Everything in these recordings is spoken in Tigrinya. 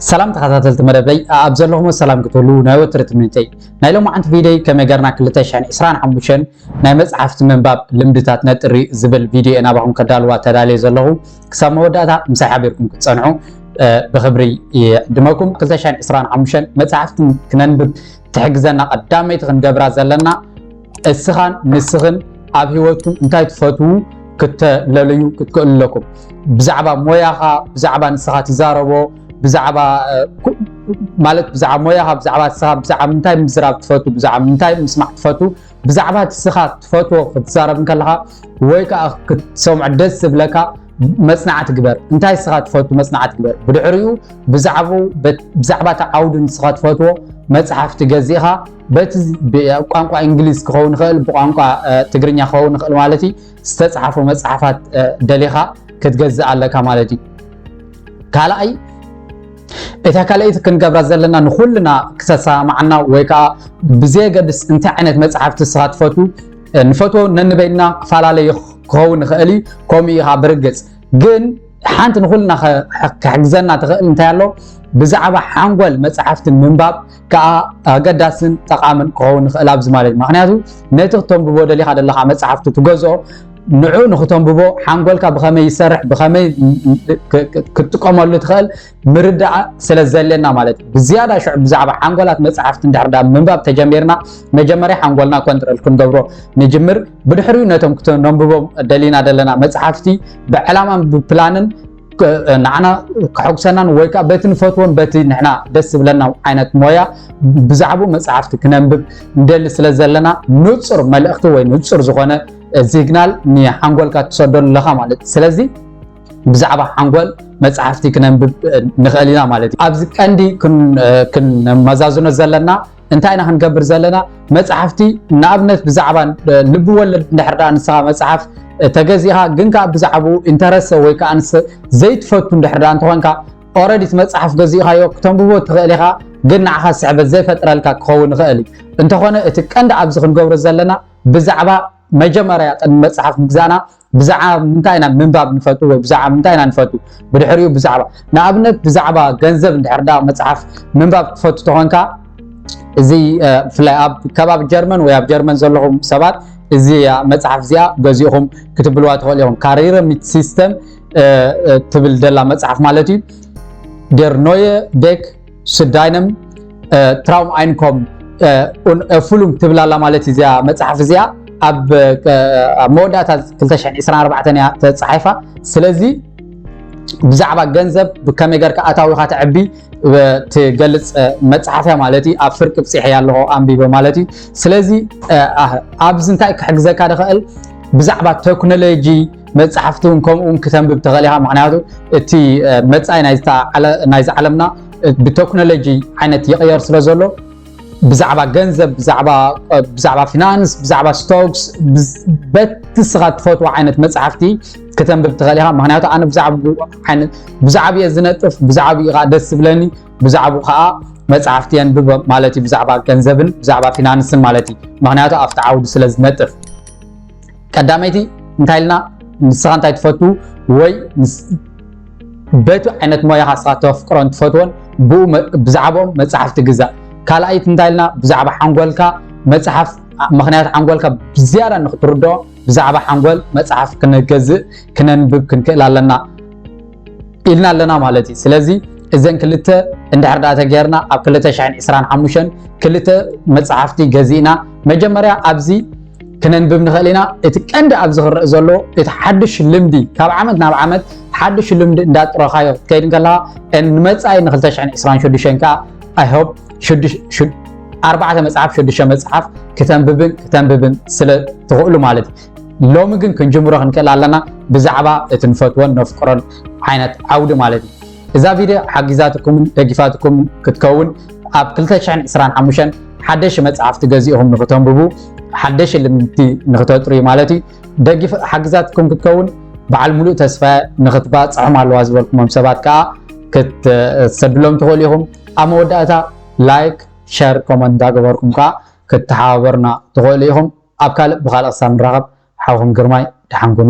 ሰላም ተኸታተልቲ መደበይ ኣብ ዘለኹም ሰላም ክትህሉ ናይ ወትሪ ትምኒተይ ናይ ሎማዓንቲ ቪድዮይ ከመይ ገርና 225 ናይ መፅሓፍቲ ምንባብ ልምድታት ነጥሪ ዝብል ቪድዮ እየ ናባኹም ከዳልዋ ተዳልየ ዘለኹ ክሳብ መወዳእታ ምሳይ ሓቢርኩም ክትፀንዑ ብክብሪ ይዕድመኩም 225 መፅሓፍቲ ክነንብብ ትሕግዘና ቀዳመይቲ ክንገብራ ዘለና እስኻን ንስኽን ኣብ ህይወትኩም እንታይ ትፈትዉ ክተለልዩ ክትክእሉ ኣለኩም። ብዛዕባ ሞያኻ ብዛዕባ ንስኻ ትዛረቦ ብዛዕባ ማለት ብዛዕባ ሞያኻ ብዛዕባ ንስኻ ብዛዕባ ምንታይ ምዝራብ ትፈቱ ብዛዕባ ምንታይ ምስማዕ ትፈቱ ብዛዕባ ንስኻ ትፈትዎ ክትዛረብ ከለኻ ወይ ከዓ ክትሰምዖ ደስ ዝብለካ መፅናዕቲ ግበር እንታይ ንስኻ ትፈቱ መፅናዕቲ ግበር ብድሕሪኡ ብዛዕባ እቲ ዓውዲ ንስኻ ትፈትዎ መፅሓፍቲ ገዚእኻ በቲ ቋንቋ እንግሊዝ ክኸውን ይኽእል ብቋንቋ ትግርኛ ክኸውን ይኽእል ማለት እዩ ዝተፅሓፉ መፅሓፋት ደሊኻ ክትገዝእ ኣለካ ማለት እዩ ካልኣይ እታ ካልኣይቲ ክንገብራ ዘለና ንኩልና ክተሰማማዓና ወይ ከዓ ብዘየገድስ እንታይ ዓይነት መፅሓፍቲ ንስኻ ትፈቱ ንፈትዎ ነንበይና ክፈላለዩ ክኸውን ይኽእል እዩ ከምኡ ኢኻ ብርግፅ ግን ሓንቲ ንኩልና ክሕግዘና ትኽእል እንታይ ኣሎ ብዛዕባ ሓንጎል መፅሓፍቲ ምንባብ ከኣ ኣገዳስን ጠቓምን ክኸውን ይኽእል ኣብዚ ማለት ምክንያቱ ነቲ ክተንብቦ ደሊኻ ዘለኻ መጽሓፍቲ ትገዝኦ ንዑ ንክተንብቦ ሓንጎልካ ብኸመይ ይሰርሕ ብኸመይ ክትጥቀመሉ ትኽእል ምርዳእ ስለ ዘለና ማለት እዩ ብዝያዳ ሽዑ ብዛዕባ ሓንጎላት መፅሓፍቲ እንድሕር ዳ ምንባብ ተጀሚርና መጀመርያ ሓንጎልና ኮንትሮል ክንገብሮ ንጅምር ብድሕሪኡ ነቶም ክተነንብቦም ደሊና ዘለና መፅሓፍቲ ብዕላማን ብፕላንን ንዓና ከሐጉሰናን ወይ ከዓ በቲ ንፈትዎን በቲ ንሕና ደስ ዝብለና ዓይነት ሞያ ብዛዕባኡ መፅሓፍቲ ክነንብብ ንደሊ ስለ ዘለና ንፁር መልእኽቲ ወይ ንፁር ዝኾነ ሲግናል ንሓንጎልካ ትሰደሉ ኣለኻ ማለት እዩ ስለዚ ብዛዕባ ሓንጎል መፅሓፍቲ ክነንብብ ንኽእል ኢና ማለት እዩ ኣብዚ ቀንዲ ክንመዛዝኖ ዘለና እንታይ ኢና ክንገብር ዘለና መፅሓፍቲ ንኣብነት ብዛዕባ ልቢ ወለድ እንድሕር ድኣ ንስኻ መፅሓፍ ተገዚኻ ግን ከዓ ብዛዕባኡ ኢንተረሰ ወይ ከዓ ንስ ዘይትፈቱ እንድሕር ድኣ እንተኾንካ ኦረዲ እቲ መፅሓፍ ገዚእኻዮ ክተንብቦ ትኽእል ኢኻ ግን ንዓኻ ስዕበት ዘይፈጥረልካ ክኸውን ይኽእል እዩ እንተኾነ እቲ ቀንዲ ኣብዚ ክንገብሮ ዘለና ብዛዕባ መጀመርያ ቅድሚ መፅሓፍ ምግዛእና ብዛዕባ ምንታይ ኢና ምንባብ ንፈቱ ወይ ብዛዕባ ምንታይ ኢና ንፈቱ ብድሕሪኡ ብዛዕባ ንኣብነት ብዛዕባ ገንዘብ እንድሕር ዳ መጽሓፍ ምንባብ ትፈቱ ተኾንካ እዚ ብፍላይ ኣብ ከባቢ ጀርመን ወይ ኣብ ጀርመን ዘለኹም ሰባት እዚ መጽሓፍ እዚኣ ገዚእኹም ክትብልዋ ትኽእሉ ኢኹም ካሪረ ሚት ሲስተም ትብል ደላ መጽሓፍ ማለት እዩ ደር ኖየ ዴክ ስዳይነም ትራውም ኣይንኮም ኡን ፉሉንግ ትብል ኣላ ማለት እዩ እዚኣ መፅሓፍ እዚኣ ኣብ መወዳእታ 224 እያ ተፃሒፋ ስለዚ ብዛዕባ ገንዘብ ብከመይ ገርካ ኣታዊካ ተዕቢ ትገልፅ መፅሓፍ እያ ማለት እዩ ኣብ ፍርቂ ብፂሐ እያ ኣለኹ ኣንቢበ ማለት እዩ ስለዚ ኣብዚ እንታይ ክሕግዘካ ዝኽእል ብዛዕባ ቴክኖሎጂ መጻሕፍቲ ውን ከምኡ ውን ክተንብብ ትኽእል ኢኻ ምኽንያቱ እቲ መጻኢ ናይዛ ዓለምና ብተክኖሎጂ ዓይነት ይቕየር ስለ ዘሎ ብዛዕባ ገንዘብ ብዛዕባ ፊናንስ ብዛዕባ ስቶክስ በቲ ስኻ ትፈትዎ ዓይነት መጻሕፍቲ ክተንብብ ትኽእል ኢኻ ምክንያቱ ኣነ ብዛዕባ እየ ዝነጥፍ ብዛዕባ እዩ ከዓ ደስ ዝብለኒ ብዛዕባ ከዓ መጽሕፍቲ የንብብ ማለት እዩ ብዛዕባ ገንዘብን ብዛዕባ ፊናንስን ማለት እዩ ምክንያቱ ኣብቲ ዓውዲ ስለ ዝነጥፍ ቀዳመይቲ እንታይ ኢልና ንስኻ እንታይ ትፈቱ ወይ በቲ ዓይነት ሞያኻ ንስኻ ተፍቅሮን ትፈትዎን ብኡ ብዛዕባኦም መፅሓፍቲ ግዛእ ካልኣይቲ እንታይ ኢልና ብዛዕባ ሓንጎልካ መፅሓፍ ምክንያት ሓንጎልካ ብዝያዳ ንክትርድኦ ብዛዕባ ሓንጎል መፅሓፍ ክንገዝእ ክነንብብ ክንክእል ኣለና ኢልና ኣለና ማለት እዩ ስለዚ እዘን ክልተ እንድሕር ዳኣ ተገይርና ኣብ ክልተ ሽሕን ዕስራን ሓሙሽተን ክልተ መፅሓፍቲ ገዚእና መጀመርያ ኣብዚ ክነንብብ ንኽእል ኢና እቲ ቀንዲ ኣብዚ ክረአ ዘሎ እቲ ሓድሽ ልምዲ ካብ ዓመት ናብ ዓመት ሓድሽ ልምዲ እንዳጥረኻዮ ክትከይድ ከለኻ ንመፃኢ ን226 ከዓ ኣይሆፕ ኣርባዕተ መፅሓፍ ሽዱሽተ መፅሓፍ ክተንብብን ክተንብብን ስለ ትኽእሉ ማለት እዩ ሎሚ ግን ክንጅምሮ ክንክእል ኣለና ብዛዕባ እቲ ንፈትዎን ነፍቅሮን ዓይነት ዓውዲ ማለት እዩ እዛ ቪድዮ ሓጊዛትኩምን ደጊፋትኩምን ክትከውን ኣብ 225 ሓደሽ መፅሓፍቲ ገዚእኹም ንክተንብቡ ሓደሽ ልምድቲ ንክተጥርዩ ማለት እዩ ደጊፍ ሓጊዛትኩም ክትከውን በዓል ሙሉእ ተስፋ ንክትባፅሖም ኣለዋ ዝበልኩሞም ሰባት ከዓ ክትሰድሎም ትኽእሉ ኢኹም ኣብ መወዳእታ ላይክ ሸር ኮመንት እንዳገበርኩም ከዓ ክትተሓባበሩና ትኽእሉ ኢኹም ኣብ ካልእ ብካልእ ክሳብ ንራከብ ሓውኩም ግርማይ ደሓን ኩኑ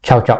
ቻው ቻው።